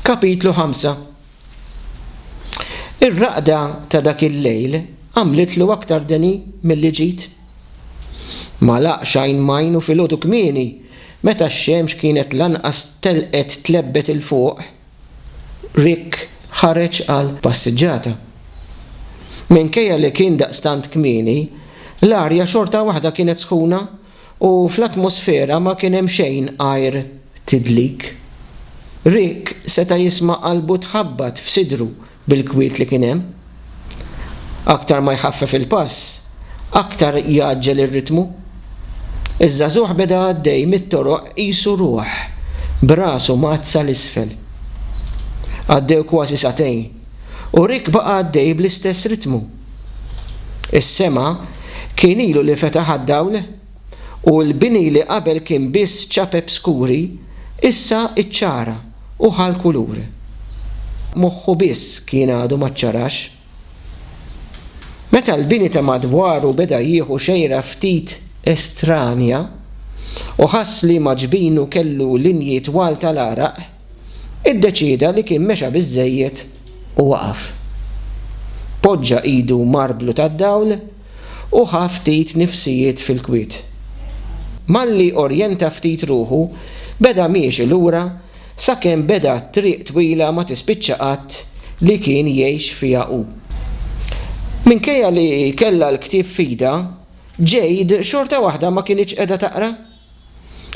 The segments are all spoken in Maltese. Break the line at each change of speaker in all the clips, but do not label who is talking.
Kapitlu 5 Ir-raqda ta' dak il-lejl għamlitlu aktar deni milli ġid. Ma laqx għajn m'għajn u filgħodu kmieni, meta x-xemx kienet lanqas telqet tlebbet 'il fuq, Rick ħareġ għal passiġġata. Minkejja li kien daqstant kmieni, l-arja xorta waħda kienet sħuna U fl-atmosfera ma kien hemm xejn għajr tidlik. Rick seta' jisma' qalbu tħabbat f'sidru bil-kwiet li kien hemm. Aktar ma jħaffef il-pass, aktar jgħaġġel ir-ritmu. Iż-żagħżugħ beda għaddej mit-toroq qisu ruħ, b'rasu mgħaddsa 'l isfel. Għaddew kważi sagħtejn, u Rick baqa' għaddej bl-istess ritmu. Is-sema kien ilu li fetaħ għad-dawl, u l-bini li qabel kien biss ċapep skuri, issa ċċara u ħa l-kulur. Moħħu biss kien għadu ma ċċarax. Meta l-bini ta' madwaru beda jieħu xejra ftit estranja, u ħass liema ġbinu kellu linji twal tal-għaraq, iddeċieda li kien mexa biżżejjed u waqaf. Poġġa idu marblu tad-dawl u ħa ftit nifsijiet fil-kwiet. Malli orjenta ftit ruħu, beda miexi lura sakemm beda t-triq twila ma tispiċċa qatt li kien jgħix fiha hu. Minkejja li kellha l-ktieb f'idha, Jade xorta waħda ma kinitx qiegħda taqra.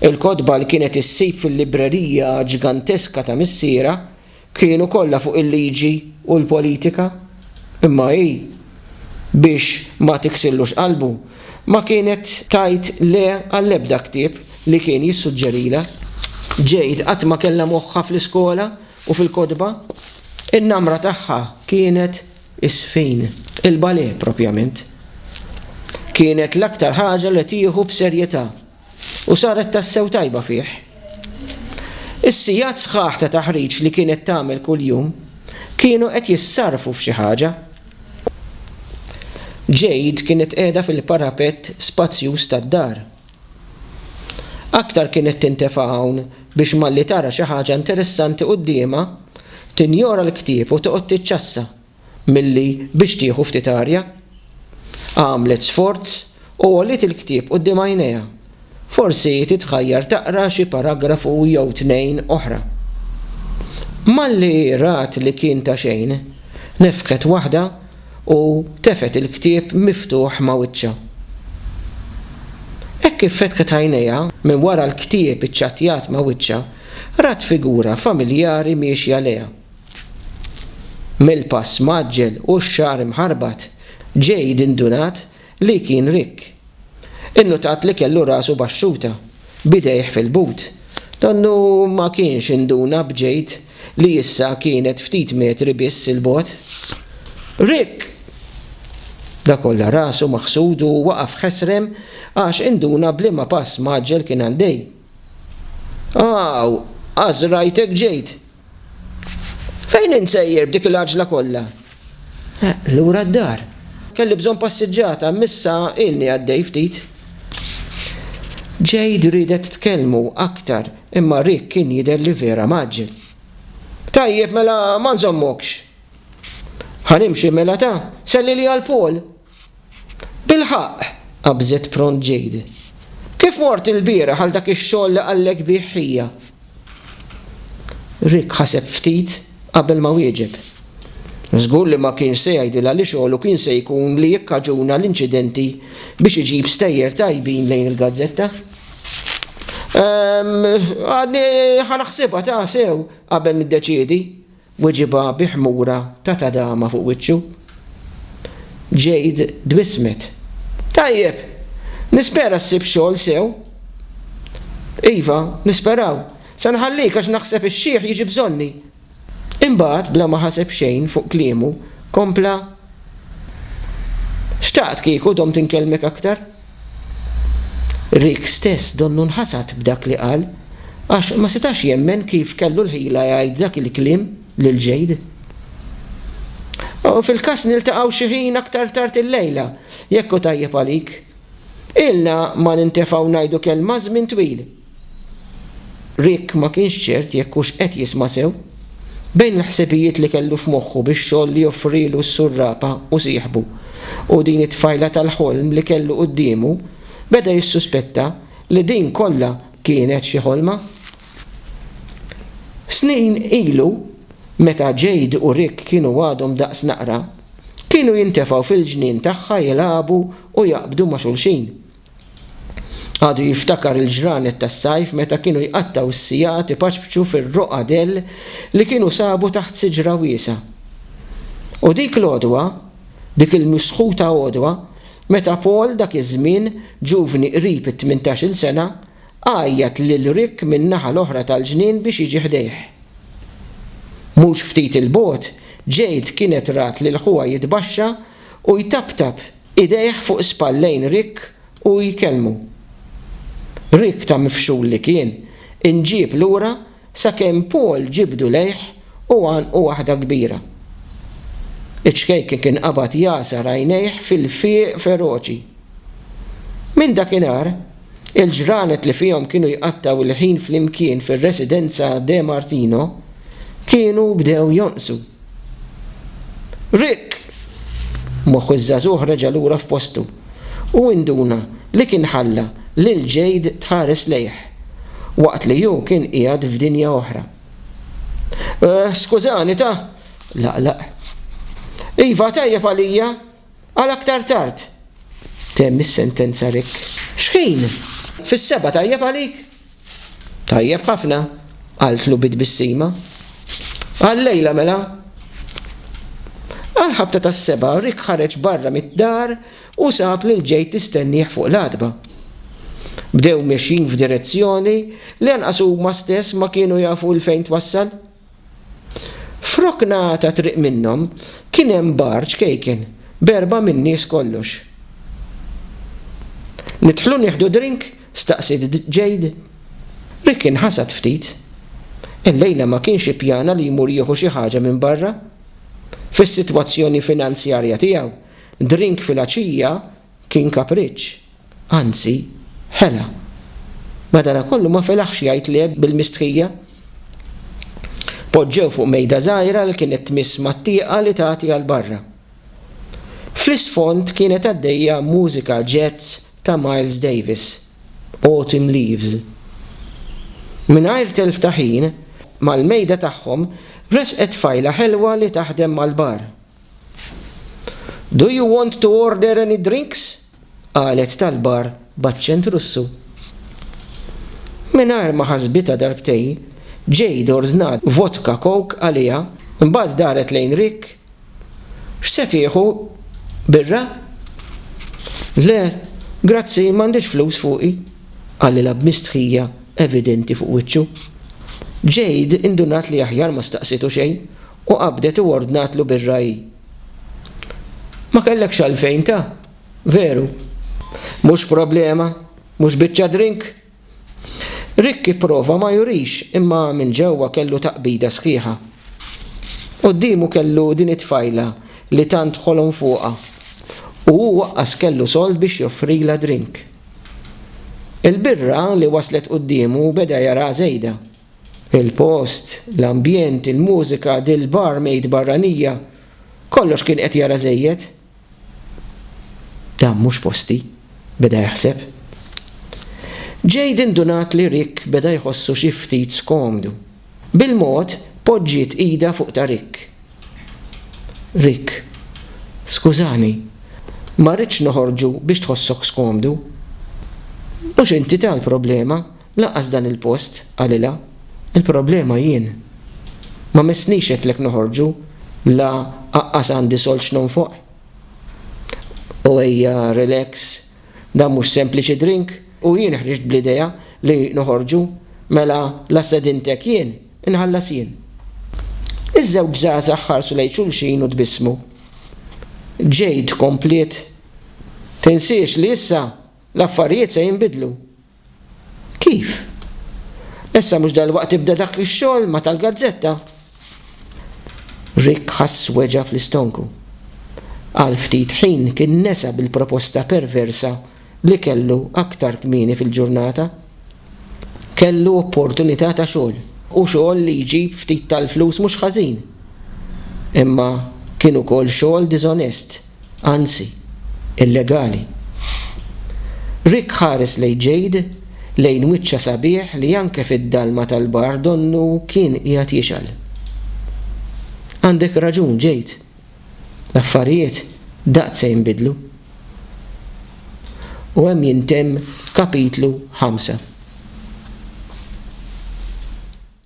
Il-kotba li kienet issib fil-librerija ġganteska ta' missierha kienu kollha fuq il-liġi u l-politika. Imma hi, biex ma tiksirlux qalbu, ma kienet tgħid le għall-ebda ktieb li kien jissuġġerilha. Jade qatt ma kellha moħħha fl-iskola u fil-kotba. In-namra tagħha kienet Is-sfin, il-ballet propjament, kienet l-aktar ħaġa li tieħu b'serjetà u saret tassew tajba fih. Is-sigħat sħaħ ta' taħriġ li kienet tagħmel kuljum kienu qed jissarrfu f'xi ħaġa. Jade kienet qiegħda fil-parapett spazjuż tad-dar. Aktar kienet tintefa' hawn biex malli tara xi ħaġa interessanti quddiemha, tinjora l-ktieb u toqgħod tiċċassa milli biex tieħu ftit arja. Għamlet sforz u għoliet il-ktieb quddiem għajnejha. Forsi titħajjar taqra xi paragrafu jew tnejn oħra. Malli rat li kien ta' xejn, nefħet waħda u tefgħet il-ktieb miftuħ ma' wiċċha. Hekk kif fetħet għajnejha, minn wara l-ktieb iċċattjat ma' wiċċha, rat figura familjari miexja lejha. Mill-pass mgħaġġel u x-xagħar imħarbat, Jade indunat Li kien rikk. Innutat li kellu rasu baxxuta, b'idejh fil-but. Donnu ma kienx induna b'ġejd li issa kienet ftit metri biss 'il bogħod. Rikk! Dakolla rasu maħsud u waqaf ħesrem għax induna b'liema pass mgħaġġel kien għaddej. Aw! Għażrajtek ġejt! Fejn int sejjer b'dik il-għaġla kollha? Lura d-dar. Kelli bżonn passiġġata, imma issa ilni għaddej ftit. Jade riedet tkellmu aktar, imma Rick kien jidher li vera mgħaġġel. Tajjeb, mela ma nżommokx. Ħa nimxi mela ta? Sellilha 'l Paul! Bilħaqq! qabżet pront Jade. Kif mort ilbieraħ għal dak ix-xogħol li qallek bih ħija? Rick ħaseb ftit qabel ma wieġeb. Żgur li ma kienx se jgħidilha li xogħlu kien se jkun li jikkaġuna l-inċidenti biex iġib stejjer tajbin lejn il-gazzetta. Ehm, għadni ħa naħsibha ta' sew qabel niddeċiedi. Weġibha bi ħmura ta' tadama fuq wiċċu. Jade tbissmet. Tajjeb! Nispera ssib xogħol sew. Iva, nisperaw. Se nħallik għax naħseb ix-xiħ jiġi bżonni. Imbagħad, bla ma ħaseb xejn fuq kliemu, kompla, Xtaqt kieku domt inkellmek aktar. Rick stess donnu nħasad b'dak li qal għax ma setax jemmen kif kellu l-ħila jgħid dak il-kliem lil Jade. Fil-każ niltaqgħu xi ħin aktar tard illejla, jekk hu tajjeb għalik. Ilna ma nintefgħu ngħidu kelma żmien twil. Rick ma kienx ċert jekk hux qed jisma' sew. Bejn il-ħsibijiet li kellu f'moħħu bix-xogħol li joffrilu s-surrapa u sieħbu, u din it-tfajla tal-ħolm li kellu quddiemu, beda jissuspetta li din kollha kienet xi ħolma. Snin ilu, meta Jade u Rick kienu għadhom daqs naqra, kienu jintefgħu fil-ġnien tagħha jilagħbu u jaqbdu ma' xulxin. Għadu jiftakar il-ġranet tas-sajf meta kienu jqattgħu s-sigħat ipaċpċu fir-roqgħa dell li kienu sabu taħt siġra wiesgħa. U dik l-għodwa, dik il-misħuta għodwa, meta Paul, dak iż-żmien, ġuvni qrib it-tmintax-il sena, għajjat lil Rick min-naħa l-oħra tal-ġnien biex jiġi ħdejh. Mhux ftit 'il bogħod, Jade kienet rat lil ħuha jitbaxxa u jtaptap Idejh fuq spallejn Rick u jkellmu. Rick ta' mifxul li kien, inġieb lura sakemm Paul ġibdu lejh u għannqu waħda kbira. Iċ-ċkejken kien qabad jagħsar għajnejh fil-fieq feroċi. Minn dakinhar, Il-ġranet li fihom kienu jqattgħu il-ħin flimkien fir-residenza De Martino kienu bdew jonqsu. Rick! Moħħ iż-żagħżugħ reġa' lura f'postu u induna li kien ħalla lil Jade tħares lejh waqt li hu kien qiegħed f'dinja oħra. Skużani ta'! laqlaq. Iva, tajjeb għalija! Għal aktar tard. Temm is-sentenza Rick. X'ħin? Fis-sebgħa tajjeb għalik? Tajjeb ħafna, qaltlu bi tbissima. Għal-lejla mela. Għall-ħabta tas-sebgħa Rick ħareġ barra mid-dar u sab lil Jade tistennieh fuq l-għatba. Bdew mexjin f'direzzjoni li anqas huma stess ma kienu jafu 'l fejn twassal. F'rokna ta' triq minnhom kien hemm bar ċkejken b'erbgħa min-nies kollox. Nidħlu nieħdu drink? staqsiet Jade. Rick inħasad ftit. Illejla ma kienx ippjana li jmur jieħu xi ħaġa minn barra. Fis-sitwazzjoni finanzjarja tiegħu, drink filgħaxija kien kapriċċ. Anzi, ħela. Madanakollu ma felaħx jgħid le bil-mistħija. Poġġew fuq mejda żgħira li kienet tmiss mat-tieqa li tagħti għal barra. Fl-isfond kienet għaddejja mużika jazz ta' Miles Davis, Autumn Leaves. Mingħajr telf ta' ħin, mal-mejda tagħhom resqet tfajla ħelwa li taħdem mal-bar. Do you want to order any drinks? qalet tal-bar b'aċċent Russu. Mingħajr ma ħasbitha darbtejn, Jade ordnat vodka coke għaliha, imbagħad daret lejn Rick, X'se tieħu, birra? Le, grazzi, m'għandix flus fuqi, qalilha b'mistħija evidenti fuq wiċċu. Jade indunat li aħjar ma staqsietu xejn U qabdet u ordnatlu bir-ragħij, Ma kellekx għalfejn ta', veru? Mhux problema, mhux biċċa drink? Rick ipprova ma jurix imma minn ġewwa kellu taqbida sħiħa. Quddiemu kellu din it-tfajla li tant ħolom fuqha u hu waqqas kellu sold biex joffrilha drink. Il-birra li waslet quddiemu beda jaraha żejda. Il-post, l-ambjent, il-mużika, dil-barmaid barranija, kollox kien qed jara żejjed. Dan mhux posti, beda jaħseb. Jade indunat li Rick beda jħossu xi ftit skomdu. Bil-mod, poġġiet idha fuq ta' Rick. Rick, skużani, ma rridx noħorġu biex tħossok skomdu. Mhux inti tal-problema, Lanqas dan il-post, qalilha. Il-problema jien. Ma missniex għedtlek noħorġu, la aqqas għandi sold x'nonfoq. U ejja relax, dan mhux sempliċi drink u jien ħriġt bl-idea li noħorġu, mela la stedintek jien, inħallas jien. Iż-żewġ żgħażagħ ħarsu lejn xulxin u tbissmu. Jade kompliet, Tinsiex li issa l-affarijiet se jinbidlu. Kif? Issa mhux dalwaqt tibda dak ix-xogħol ma' tal-gazzetta? Rick ħass weġgħa fl-istonku. Għal ftit ħin kien nesa bil-proposta perversa li kellu aktar kmieni fil-ġurnata. Kellu opportunità ta' xogħol, u xogħol li jġib ftit tal-flus mhux ħażin. Imma kien ukoll xogħol diżonest. anzi, illegali. Rick ħares lejn Jade, lejn wiċċha sabiħ li anke fid-dalma tal-bar donnu kien qiegħed jixgħel. Għandek raġun, Jade. L-affarijiet daqt se jinbidlu. U hemm jintemm kapitlu ħamsa.